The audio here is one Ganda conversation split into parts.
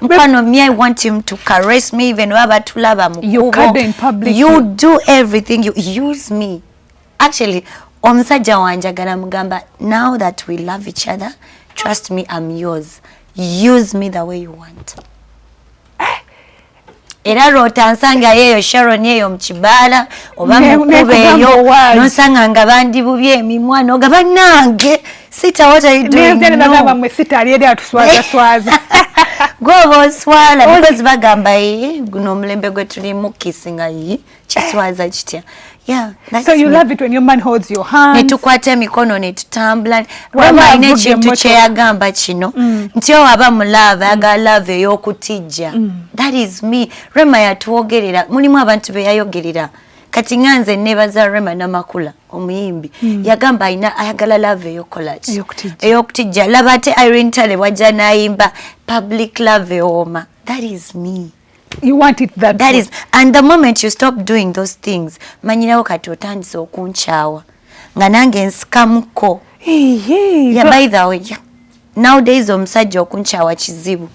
Mkwano, me, I want him to caress me even waba tulaba mukubo. You do everything, you use me. Actually, omusajja wanjagala mugamba, now that we love each other, trust me, I'm yours. Use me the way you want. Eh? era lwota nsanga yeeyo sharon eyo mukibaala oba mukuba eyo nosanga nga bandibubye emimwa noga banange Sita, what are you doing? Nenzele no. bagamba mwe sita aliyede atuswaza swaza. Gobo oswala because bagamba yi guno omulembe gwe tulimu kissinga yi kiswaza kitya. Yeah, that's so you me. love it when your man holds your hand. Netukwata emikono netutambula. Wama ine ekintu kyeyagamba kino mm. nti owaba mu love aga love ey'okutijja. Mm. That is me. Rema yatuwogerera mulimu abantu be yayogerera kati nga nze nebaza Rema namakula. omuyimbi mm. yagamba alina ayagala love eyokolaki eyokutijja laba ate irene tale wajja nayimba public love ewooma that is me you want it that, that is, and the moment you stop doing those things manyirawo kati otandise okunkyawa nga nange nsikamuko hey, hey, yeah, by the way yeah. nowdays omusajja okunkyawa kizibu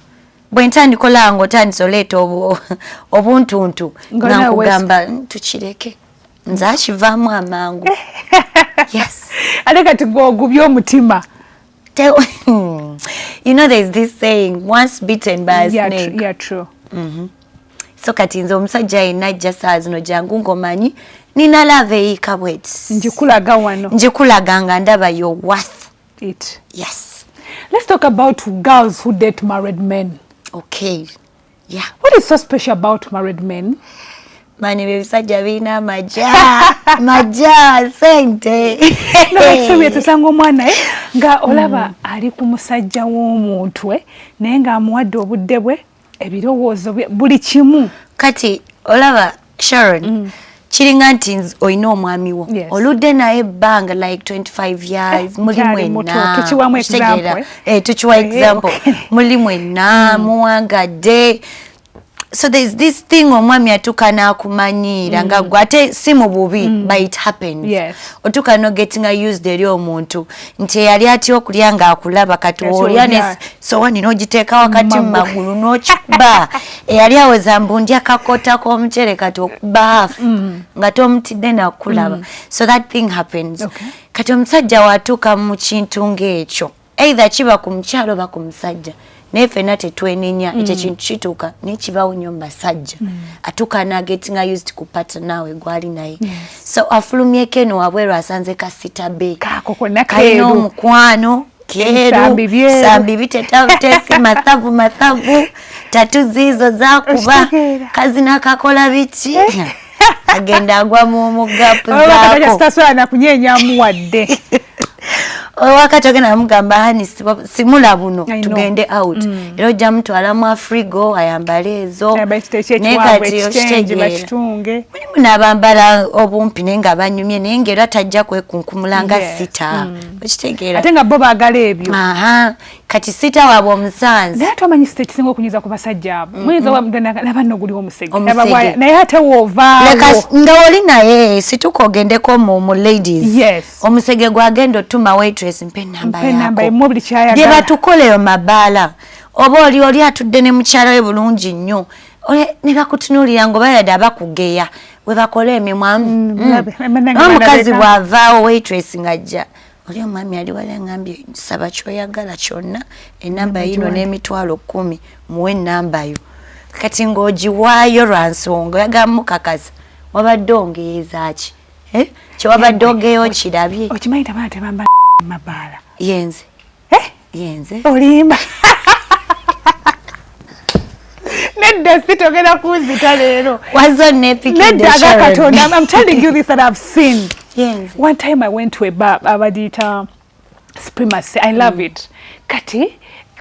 bwe ntandikola nga otandise oleeta obuntuntu nga nkugamba tukireke nze akivaamu amangu ate kati gwogubye omutima hmm. you know there's this saying once beaten by a snake yeah, true. Mm -hmm. so kati nze omusajja yenna ajja saa zino jangu ngomanyi nina lava eyiika bweti njikulaga wano njikulaga nga ndaba your worth it yes let's talk about girls who date married men okay Yeah. What is so special about married men? Mani bebisajja birina amaja maja sente nokisomye tusanga omwana eh, nga olaba hmm. ali ku musajja w'omuntu eh, naye ng'amuwadde obudde bwe ebirowoozo buli kimu kati olaba Sharon mm. kiringa nti olina omwami wo yes. oludde naye ebbanga like 25 years eh, muli mwenna tukiwa example, eh, tukiwa eh, example. Okay. muli mwenna mm. muwangadde so there's this thing omwami atuka nakumanyiira mm. nga gwe ate si mu bubi mm. but it happens yes. otuka nogetinga used eri omuntu nti eyali atya okulya ng'akulaba kati olya ne sowani n'ogiteeka wakati mu magulu n'okiba eyali aweza mbu ndya kakota k'omucere kati okuba hafu mm. nga tomutidde nakulaba mm. so that thing happens kati omusajja watuuka mu kintu ng'ekyo either kiba ku mukyalo oba ku musajja naye fena tetwenenya mm. ekyo ekintu kituuka naye kibawo nyo mubasajja mm. atuuka nagetinga used ku pat naawe gwali naye so afulumyeko eno wabweru asanze kasita be kalina omukwano keru sambi bitetavutesi mathavu mathavu tatu ziizo zakuba kazi nakakola biki eh? agenda agwa mu mugapu zakotaswala nakunyenyamu wadde wakati ogenda namugamba hani simula buno tugende out mm. era ojja mutwala mu afrigo ayambale ezo naye kati okitegeeramulimu nabambala obumpi naye nga banyumye naye ngaera tajja kwekunkumula nga sita mm. okitegeera ate nga bo bagala ebyo kati sita wabwe omusanzi naye twamanyi sita ekisinga okunyiza ku basajja abo muyinza laba no guliwo omusege naye ate woovanga oli naye situka ogendeko mu ladies omusege gwagenda otuma waitress mpa enamba yako bye batukoleyo mabaala oba oli oli atudde ne mukyala we bulungi nnyo ne bakutunuulira nga oba yadde abakugeya we bakola emimwa mm, mm. omukazi bw'avaawo waitress ng'ajja oli omwami ali wali angambye saba kyoyagala kyonna enamba yino n'emitwalo kumi muwe enamba yo kati ng'ogiwaayo lwa nsonga oyagala mukakasa wabadde ongeezaaki eh? kyewabadde ogeyo okirabye okimanyi tabana tebamba mabaala yenze eh? yenze olimba nedda sitogera kunzita leero wazo nepiknedda aga katonda i'm telling you this that i've seen yes. one time i went to a bar abadiyita supremacy i love mm. it kati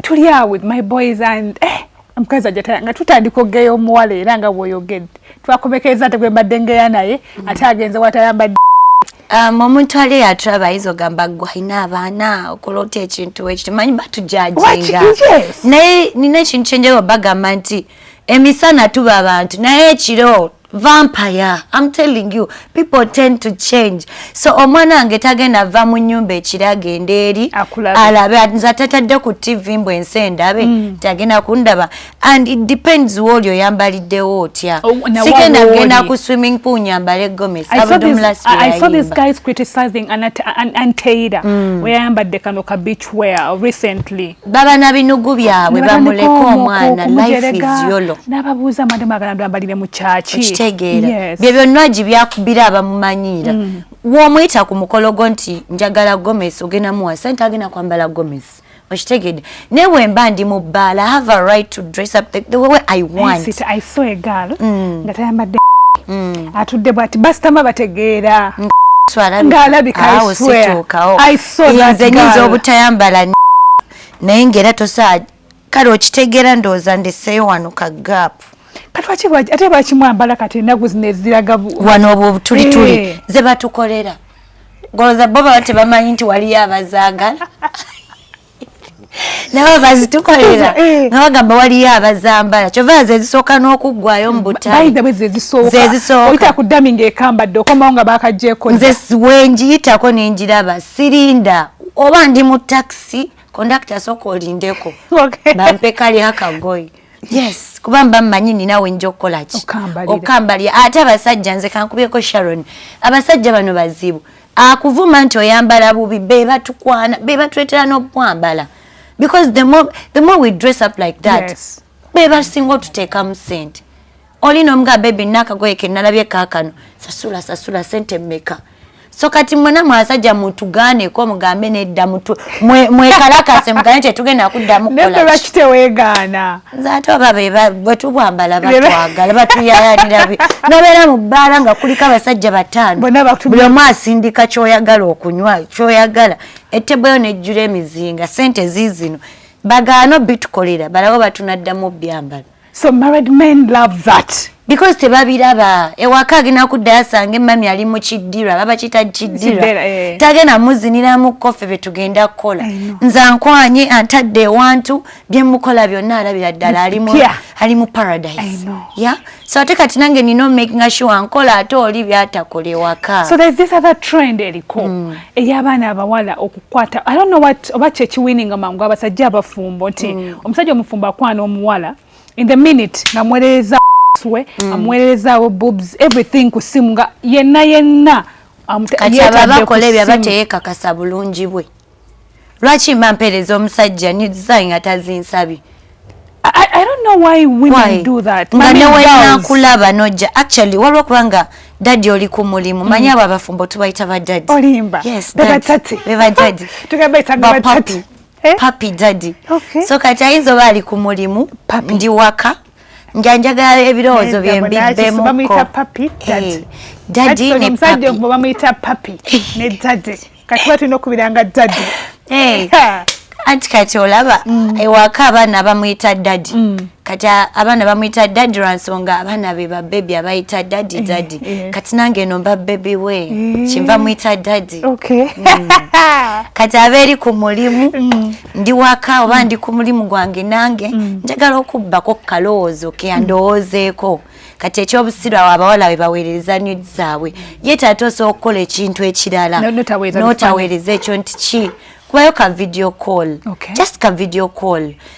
tuli awo with my boys and eh, omukazi ajatala nga tutandika okugeya omuwala era nga bwoyogedde twakomekereza ate gwe mbadde ngeya naye mm. ate agenze watayambadde um, omuntu ali eyatulaba ayinza ogamba gwalina abaana okola otya ekintu ekiti manyi batujajinga naye nina ekintu kyenjagao bagamba nti emisana tuba abantu naye ekiro vampire am telling you people tend to change so omwana wange tagenda ava mu nyumba ekiri agenda eri alabe nze atatadde ku tv mbu ensi endabe mm. tagenda kundaba and it depends wooli oyambaliddewo otya oh, sigenda genda ku swimming pool nyambale gomes abdumlasiyayimba mm. weyayambadde kano ka beach wear recently baba na binugu byabwe bamuleka omwana life is yolo nababuuza madam agala ndwambalire mu kyaki okitegeera yes. bye byonna agi byakubira abamumanyiira mm. womuyita ku mukolo gwo nti njagala gomesi ogenda muwa sente agenda kwambala gomesi okitegedde naye wemba ndi mu bbaala have a right to dress up the, the way i want I, sit, I saw a girl mm. nga tayambadde mm. atudde bwati basitama bategeera mm. ng'alabika i swear i nze nyinza obutayambala naye ngaera tosaa kale okitegeera ndowooza ndeseeyo wano ka gaapu ate bakimwambala kati enaku zino eziraga wano obwo obutulituli eh. ze batukolera ngolooza bo baba tebamanyi nti waliyo abazagala nabo bazitukolera nga bagamba waliyo abazambala kyova nze ezisooka n'okuggwayo mu butayizezisookaoyita ku dami ngaekambadde okomawo nga bakajeko nze wengiyitako nengiraba sirinda oba ndi mu takisi kondakita sooka olindeko bampekali akagoyi yes kuba mba mmanyi nina wenja okukola ki okambalira ate abasajja nze kankubireko sharon abasajja bano bazibu akuvuma nti oyambala bubi bebatukwana bebatwetera nokwambala because the more, the more we dress up like that yes. bebasinga otuteekamu sente oli nomuga bebi nakagoye kenalabye kakano sasula sasula sente meka so kati mwena mwasajja mutugaaneko mugambe nedda mwekalakase mugane tetugenda kuddamu kolaki tewegaana nze ate oba bwetubwambala batwagala batuyayanira nobeera mu bbaala nga kuliko abasajja bataano buli omu asindika kyoyagala okunywa kyoyagala etebweyo nejjula emizinga sente ziizino bagaana obitukolera balawo batunaddamu obyambala so married men love that because tebabiraba ewaka agenda kuddayo asanga emmami ali mu kiddira baba kita kiddira eh. tagenda muziniramu koffe bye tugenda kukola nze ankwanye antadde ewantu bye mukola byonna alabira ddala ali mu paradise ya so ate kati nange nina omakinga sure ankola ate oli byatakola ewaka so there's this other trend eriko mm. ey'abaana abawala okukwata i don't know what oba kyekiwininga mangu abasajja abafumbo nti mm. omusajja omufumbo akwana omuwala in the minute nga mwerereza we mm. amuwererezaawo boobs everything ku simu nga yenna yenna kati aba bakola ebyo aba teyekakasa bulungi bwe lwaki mba mpeereza omusajja nizayi nga tazinsabye I, don't know why women why? do that nga newenakulaba nojja actually waliwo kubanga dadi oli ku mulimu mm. manyi abo abafumbo tubayita badadi olimba yes, bebadadi bebadadi tugabaita bebadadi eh? papi daddy okay. so kati ayinza oba ali ku mulimu ndi waka njanjagala ebirowoozo byembibbemukko dadi ne papi bamuyita papi ne dadi kati ba tulina okubiranga dadi eh. anti kati olaba mm. ewaka abaana bamuyita dadi mm. kati abaana bamuyita dadi lwansonga abaana be babebi abayita dadi eh, dadi eh. kati nange eno mbabebi we eh. kinva muyita dadi bwebwezi okay. mm. kati abeeri ku mulimu mm. ndi waka oba mm. ndi ku mulimu gwange nange mm. njagala okubbako kukalowoozo ke andowoozeeko kati ekyobusiru awo abawala we baweereza nid zaabwe ye taata osobola okukola ekintu ekirala notaweereza ekyo nti ki kubayo ka video call okay. just ka video call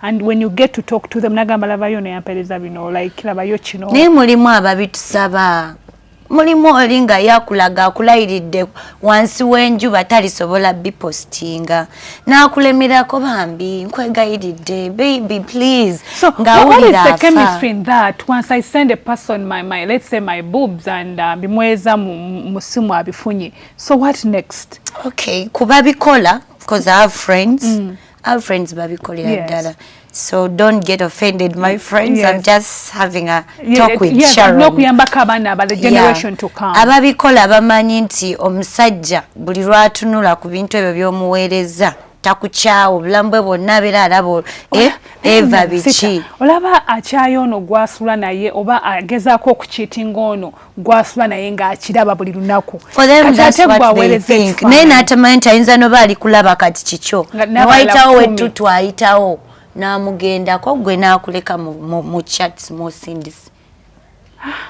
and when you get to talk to them nagamba labayo neyampereza bino like labayo kino naye mulimu ababitusaba mulimu oli nga yakulaga akulayiridde wansi w'enjuba talisobola bipostinga n'akulemerako bambi nkwegayiridde baby please so, ngawulira afa chemistry in that once i send a person my, my let's say my boobs and uh, bimweza mu simu abifunye so what next okay kuba bikola because i have friends mm. our friends babikolera yes. ddala so don't get offended my friends yes. i'm just having a talk yeah, with yes, sharon nokuyambako abaana abale generation yeah. to come ababikola abamanyi nti omusajja buli lwatunula ku bintu ebyo byomuweereza takukyawo obulamu bwe bwonna abeera alaba eh, eva biki olaba akyayo ono gwasula naye oba agezaako okukiitinga ono gwasula naye ng'akiraba buli lunaku naye n'atamanyi nti ayinza noba ali kulaba kati kikyo newayitawo wettutu ayitawo n'amugendako gwe n'akuleka mu chats mosindisi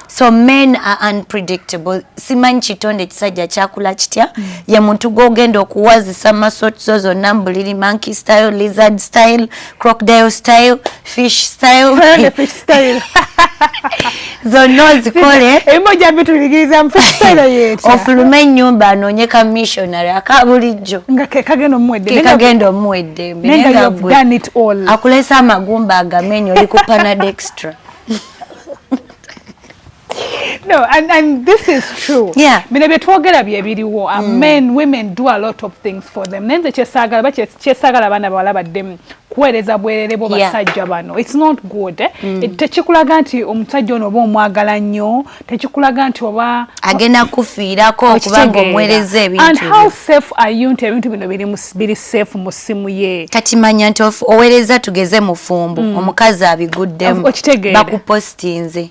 so men are unpredictable simanyi kitonde ekisajja kyakula kitya mm. ye muntu gwogenda okuwazisa masotizo zonna mbuliri monkey style lizard style crocodile style fish style fish style zonna ozikole ebimu ojja bituyigiriza mufisitayiro yeeta ofulume ennyumba anoonye ka missionary aka bulijjo nga kekagenda omuweddekekagenda omuwa eddembe akulesa amagumba agamenyo oli ku panad extra No, and, and this is true. Yeah. Bino byetwogera bye biriwo. Uh, mm. Men, women do a lot of things for them. Naye nze kyesagala ba kyesagala abaana bawala baddemu kuweereza bwerere bo basajja bano. It's not good. Eh? Mm. It, tekikulaga nti omusajja ono oba omwagala nnyo, tekikulaga nti oba agenda kufiirako kubanga omuweereza ebintu. And how safe are you nti ebintu bino biri biri safe mu ssimu ye? Kati manya nti oweereza tugeze mufumbo, mm. omukazi abiguddemu. Okitegeera. Bakupostinze.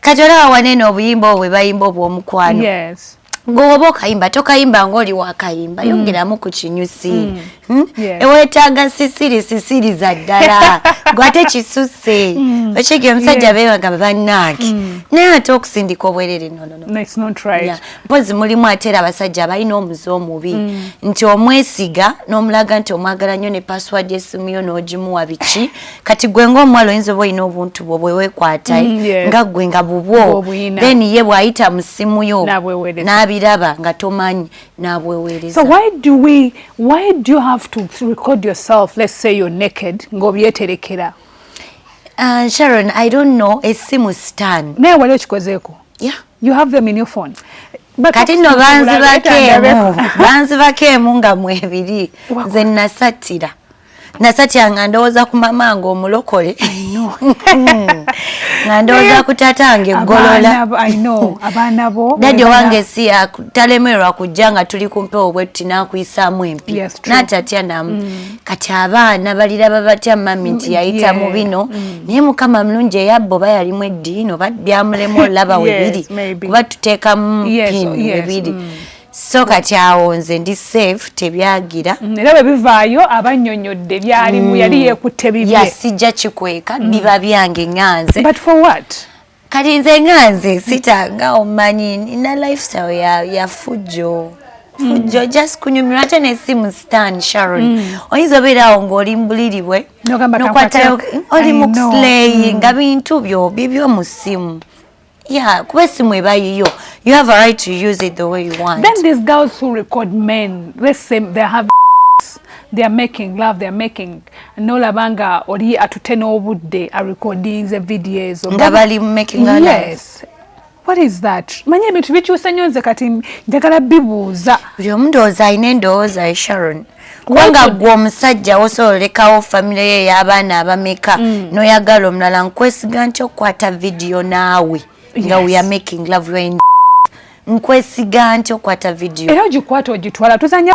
kati olaba wanene obuyimba obwe bayimba obwomukwano yes. ngowoba okayimba tokayimba ngaoli wakayimba mm. yongeramu ku kinyusi mm. hmm? yeah. ewetaaga sisiri sisiri za ddala gwate kisuse mm. okiga omusajja yeah. bebagamba banaaki mm. naye ate okusindika obwerere nonono no. no, right. yeah. mpozi mulimu ate era abasajja abalina omuze omubi mm. nti omwesiga n'omulaga nti omwagala nnyo ne password esimu yo n'ogimuwa biki kati gwe ngaomuwala oyinza oba olina obuntu bwo bwewekwata mm, eh? nga gwe nga bubwo then ye bwayita mu simu yo n'abiraba nga tomanyi n'abweweereza ng'obyeterekera uh, sharon i don't know esimu stan naye wali okikozeeko you have them in your phone kati no banzibako emu banzibako emu nga mwebiri nze nasattira nasatya nga ndowooza ku mama nga omulokole nga ndowooza ku tata nga eggolola dadi owange si talemerwa kujja nga tuli kumpewo bwe tuti nakuyisaamu empi natatya namu mm. kati abaana baliraba batya mami nti mm, yayita mu bino mm. naye mukama mulungi eyabbo oba yalimu eddiini oba byamulemu olaba webiri kuba tuteekamu pin webiri so kati awo nze ndi safe tebyagira mm, era bwe bivaayo abannyonnyodde byalimu mm. yali yeekutte bibye ya sijja kikweka mm. biba byange ŋanze but for what kati nze ŋanze sitanga omanyi nina lifestyle ya, ya fujjo fujjo mm. just kunyumirwa ate nesimu stan sharon mm. oyinza obeera awo ng'oli mbuliri bwe nokwatayo oli muslay nga bintu byo bibyo mu simu Yeah, kuba esimu eba yiyo. You have a right to use it the way you want. Then these girls who record men, let's say they have they are making love they are making nolaba nga oli atute n'obudde a recording the videos nga bali making love yes what is that manya ebintu bikyusa nnyo nze kati njagala bibuuza buli omu ndowooza alina endowooza ye sharon kubanga gwe omusajja osobola olekawo famire yo ey'abaana abameka mm. n'oyagala omulala nkwesiga nti okukwata vidiyo naawe nga we are making love you in nkwesiga nti okukwata vidiyo era ogikwata ogitwala tuzanya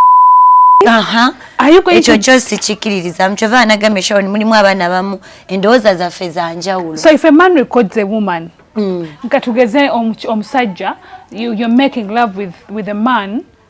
ekyo kyo sikikiririzamu kyova anagambye sharon mulimu abaana abamu endowooza zaffe za njawulo so if a man records a woman mm. nga tugeze omusajja you're making love with, with a man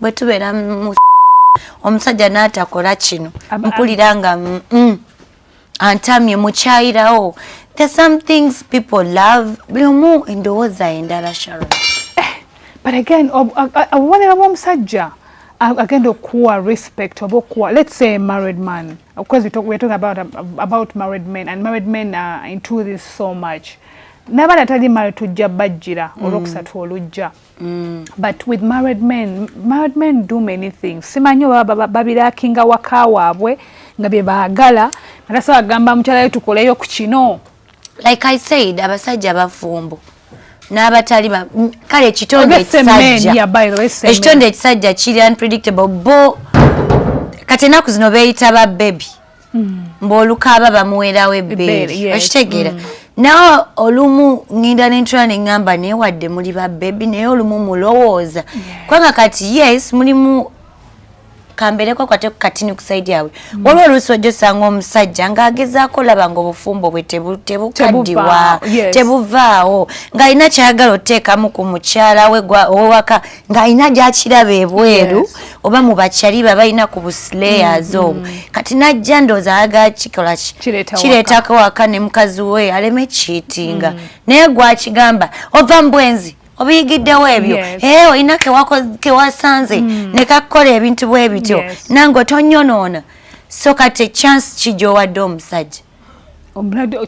bwe tubeera mu omusajja n'atakola kino mpulira nga mm, mm, antamye mukyayirawo the some things people love buli omu endowooza endala sharon eh, but again obubonero bw'omusajja agenda okuwa respect oba okuwa let's say married man because we talk, we're talking about, about married men and married men are into this so much nabana tali mali tujja bajjira mm. olwokusatu olujja Mm. but with married men married men do many things simanyi oba babirakinga waka waabwe nga bye baagala natasa bagamba mukyalayo tukoleyo ku kino like i said abasajja bafumbo n'abatali kale ekitonde ekisajjaekitonde ekisajja kiri unpredictable bo kati enaku zino beeyita ba bebi mm. mbaolukaaba bamuwerawo ebbeeri okitegeera mm. nawe olumu ŋŋenda nentula ne ŋŋamba naye wadde muli ba bebi naye olumu mulowooza kubanga kati yes mulimu kambereko kwate ku katini ku saidi yabwe mm. waliwo oluusi ojja osanga omusajja ng'agezaako olaba nga obufumbo bwe tebukaddiwa tebuvaawo ng'alina kyayagala oteekamu ku mukyala we owewaka ng'alina gyakiraba ebweru oba mu bakyali ba balina ku buslayers mm-hmm. obwo kati najja ndooza ayagala kikola kireetako waka ne mukazi we aleme kiitinga mm. naye gwakigamba ova mu bwenzi obiyigiddewo ebyo ee eh, olina kewasanze mm. ne kakukola ebintu bwe bityo nange otonyonoona so kati ekyansi kijowadde omusajja omulade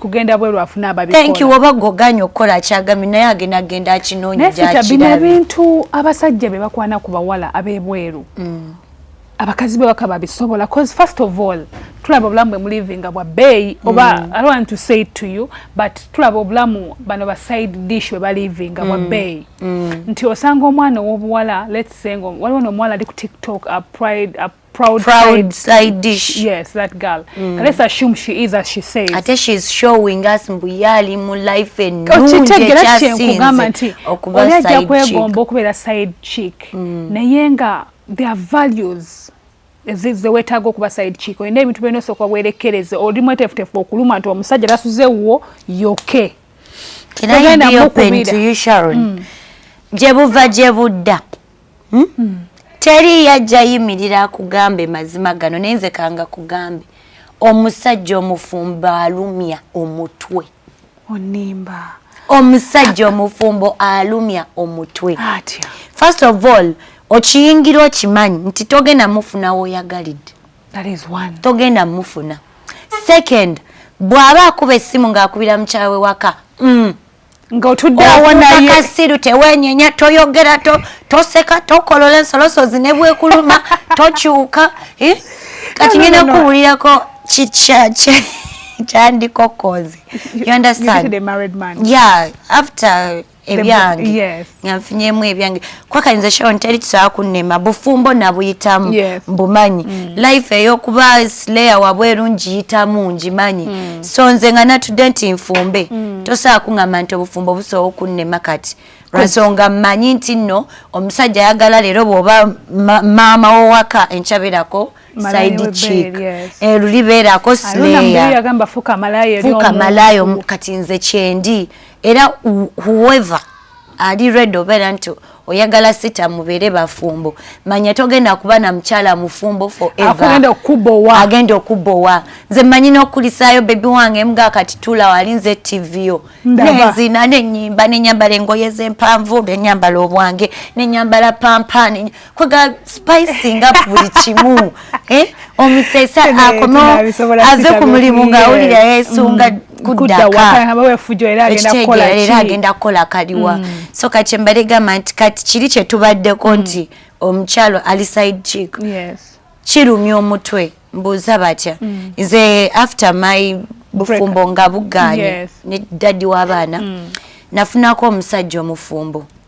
kugenda bweru afuna ababikola thank you oba goganye okukola kyagami naye agenda agenda akinoonya gyakirabina bintu abasajja be bakwana ku bawala ab'ebweru mm. abakazi be bakaba bisobola cause first of all tulaba obulamu bwe mulivinga bwa bbeeyi oba mm. i don't want to say it to you but tulaba obulamu bano ba side dish bwe balivinga bwa mm. bbeeyi mm. nti osanga omwana ow'obuwala let's say waliwo n'omuwala ali ku tiktok a pride a proud, proud side, side dish yes that girl mm. let's assume she is as she says ate she is showing us mbu yali mu life and oh, nungi ekyasinze nti oli ajja kwegomba okubeera side chick mm. naye nga their values zewetaaga okuba side chick olina ebintu byona osooka werekereze oli mwetefutefu okuluma nti omusajja tasuze wuwo yoke Can I be open to you, Sharon? Mm. Jebuva jebudda. hmm? Hmm. teri yajja yimirira akugambe mazima gano naye nze kanga kugambe omusajja omufumbo alumya omutwe onimba omusajja omufumbo alumya omutwe first of all okiyingira okimanyi nti togenda mufuna woyagalidde togenda mufuna second bw'aba akuba essimu ng'akubira mukyawe waka mm. nga otudde awo naye kasiru tewenyenya toyogera to toseka tokolola ensolosozi ne bwekuluma tokyuka eh? kati ngenda kuwulirako kikyakye kyandikokozi you understand the married man yeah after ebyange yes. nga nfunyemu ebyange kwakayinza sharon teri tusobola kunnema bufumbo nabuyitamu yes. mbumanyi mm. life eyokuba slayer wabweru ngiyitamu ngimanyi mm. so nze nga natudde nti nfumbe mm. tosobola kuŋamba nti obufumbo busobola okunnema kati lwansonga mmanyi nti nno omusajja ayagala leero bwoba maama wowaka enkyabirako side chick eh, luli beerako slayerfuuka malayo kati nze kyendi era whoever ali red obeera nti oyagala sita mubeere bafumbo manya togenda kuba na mukyala mufumbo foreveragenda okubowa nze manyi n'okukulisaayo bebi wange mga kati tula wali nze tiviyo nezina nenyimba nenyambala engoye zempanvu nenyambala obwange nenyambala pampani kwega spicing up buli kimu eh? omusesa akono aze ku mulimu nga awulira yesunga mm. kudakaera agenda kukola kaliwa mm. so kati mbale gamba nti kati kiri kyetubaddeko mm. nti omukyalo ali side chick kirumya omutwe mbuuza batya mm. nze after my bufumbo nga buganye ne daddy w'abaana nafunako omusajja omufumbo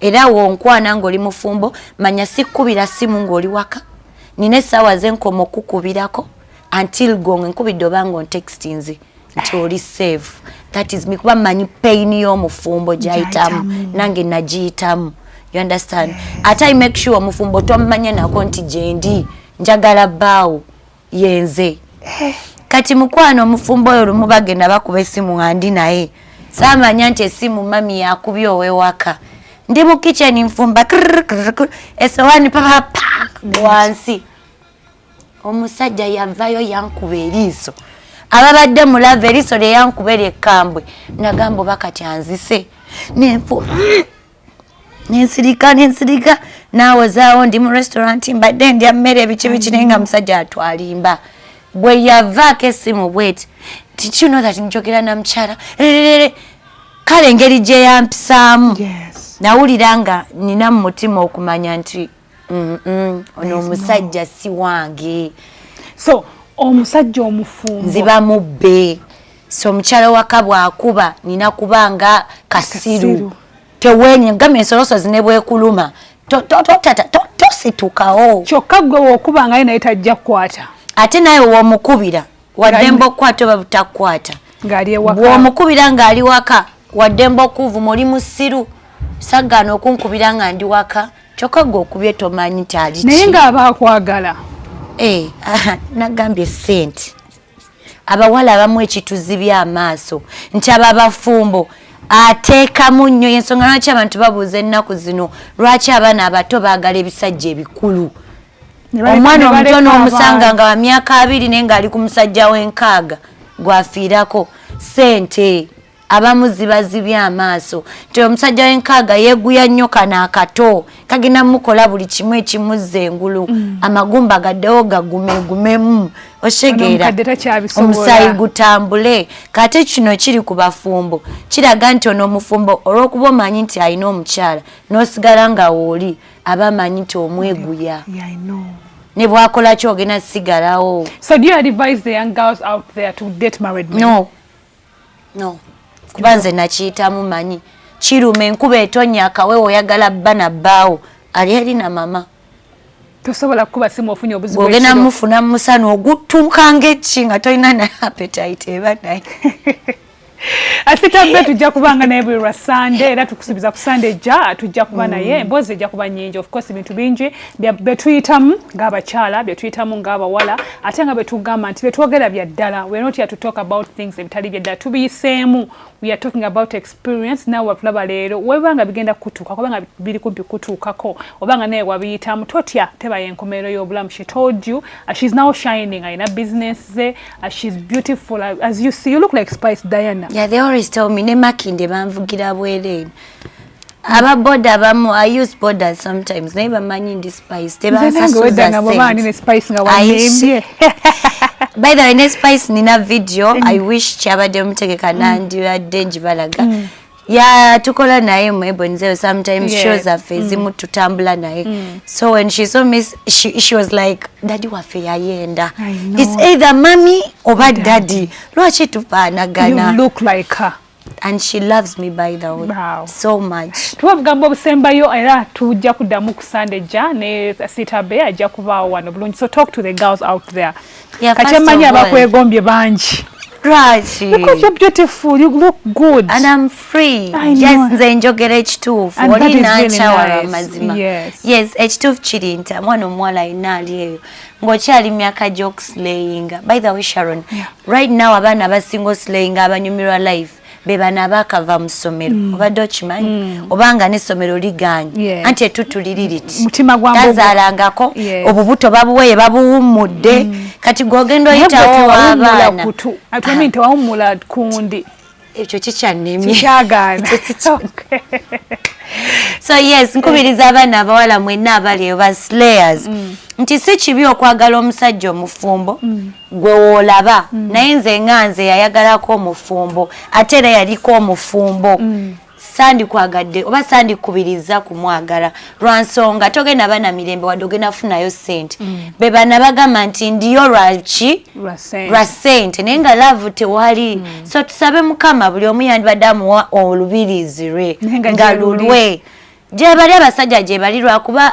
era wonkwana ng'oli mufumbo manya sikkubira simu ng'oli waka nina essaawa ze nkoma okukubirako until gong nkubidde oba nga ontextinze nti oli save that is me kuba manyi pain y'omufumbo gyayitamu nange nagiyitamu you understand ate i make sure omufumbo tomumanye nako nti gyendi njagala baawo yenze eh. kati mukwano omufumbo oyo lumu bagenda bakuba esimu nga ndi naye samanya nti esimu mami yakubye owewaka ndi mu kitchen nfumba esowani papapa wansi omusajja yavayo yankuba eriiso ababadde mulava eriiso lyeyankuba eryekambwe nagamba oba kati anzise nenfu nensirika nensirika nawozaawo ndi mu restaurant mbadde ndya mmere ebiki biki naye nga musajja atwalimba bwe yavaako essimu bweti tikino that njogera na mukyala rerere kale engeri gye yampisaamu nawulira nga nina mu mutima okumanya nti ono omusajja si wange so omusajja omufumbo nziba mubbe so omukyala waka bwakuba nina kuba nga kasiru tewenye ngamba ensolosozi ne bwekuluma tositukawo kyokka gwe wokuba ngaye naye tajja kukwata ate naye womukubira waddemba okukwata oba butakukwata bwomukubira ng'ali waka waddemba okuvuma oli musiru saggaana okunkubira nga ndi waka kyokka gwe okubye tomanyi nti ali naye ng'aba akwagala eh, nagambye sente abawala abamu ekituzibya amaaso nti aba bafumbo ateekamu nnyo yensonga lwaki abantu babuuza ennaku zino lwaki abaana abato baagala ebisajja ebikulu omwana omuto n'omusanga nga wa myaka abiri naye ng'ali ku musajja w'enkaaga gwafiirako sente abamu zibazibye amaaso nti omusajja wenkaaga yeguya nnyo kano akato kagenda mukola buli kimu ekimuzza engulu mm. amagumba gaddewo gagumegumemu oshegeera omusaayi gutambule kate kino kiri ku bafumbo kiraga nti ono omufumbo olw'okuba omanyi nti alina omukyala n'osigala nga wooli aba amanyi nti omweguya yeah, yeah, ne bwakola ki ogenda sigalawo so do you advise the young girls out there to date married men? no no kuba nze nakiyitamu manyi kiruma enkuba etonya akawe oyagala bba na bbaawo ali eri na mama tosobola kukuba simu ofunye obuzibu ogenda mufuna musana ogutuuka ngaeki nga tolina na appetite eba naye asitambe tujja kubanga naye buli lwa sande era tukusubiza ku sande ejja tujja kuba naye mm. mbozi ejja kuba nyingi of course bintu bingi betuyitamu ng'abakyala betuyitamu ng'abawala ate nga betugamba nti betwogera bya ddala we're not here to talk about things ebitali bya ddala tubiyiseemu we are talking about experience nawe watulaba leero weba nga bigenda kutuuka kuba nga biri kumpi kutuukako oba nga naye wabiyitamu totya tebayo enkomerero y'obulamu she told you uh, she's now shining alina business ze uh, she's beautiful uh, as you see you look like spice diana yeah, they always tell me ne makinde banvugira bwereeno aba boda abamu i use boda sometimes naye bamanyi ndi spice tebansasuzasente by the way ne spice nina video mm. i wish kyabadde mutegeka mm. nandibadde njibalaga mm. ya tukola naye mu ebonzeo sometimes yeah. shows affe mm. zimu tutambula naye mm. so when she saw me she, she was like daddy waffe yayenda it's either mommy oba daddy lwaki tupaanagana you look like her and she loves me by the way wow. so much tuwa bugambo obusembayo era tujja kuddamu ku sande ja ne sitabe ajja kubaawo wano bulungi so talk to the girls out there yeah, kati emanyi abakwegombye bangi Raji. Because you're beautiful, you look good. And I'm free. I yes, nze njogera ekituufu. Oli n'akyawala amazima. Yes, ekituufu kiri nti mwana omuwala alina ali eyo. ng'okyali myaka gy'okusilayinga by the way sharon yeah. right now abaana abasinga osilayinga abanyumirwa life bebana abakava mu ssomero mm. obadde okimanyi mm. obanga n'essomero liganye anti etuttu liri liti tazaalangako obubuto babuweye babuwummudde mm. kati gweogenda oyitawo abaana tewawummula kundi ekyo kikyannemye kikyagaana so yes nkubiriza abaana abawala mwenna abali eyo ba slayers mm. nti si kibi okwagala omusajja omufumbo mm. gwe woolaba mm. naye nze nga nze yayagalako omufumbo ate era yaliko omufumbo sandikwagadde oba sandikubiriza kumwagala lwa nsonga togenda bana mirembe wadde ogenda kufunayo sente mm. be bana bagamba nti ndiyo lwaki lwa sente naye nga laavu tewali mm. so tusabe mukama buli omu yandibadde amuwa olubirizi lwe nga lulwe gyebali abasajja gyebali lwakuba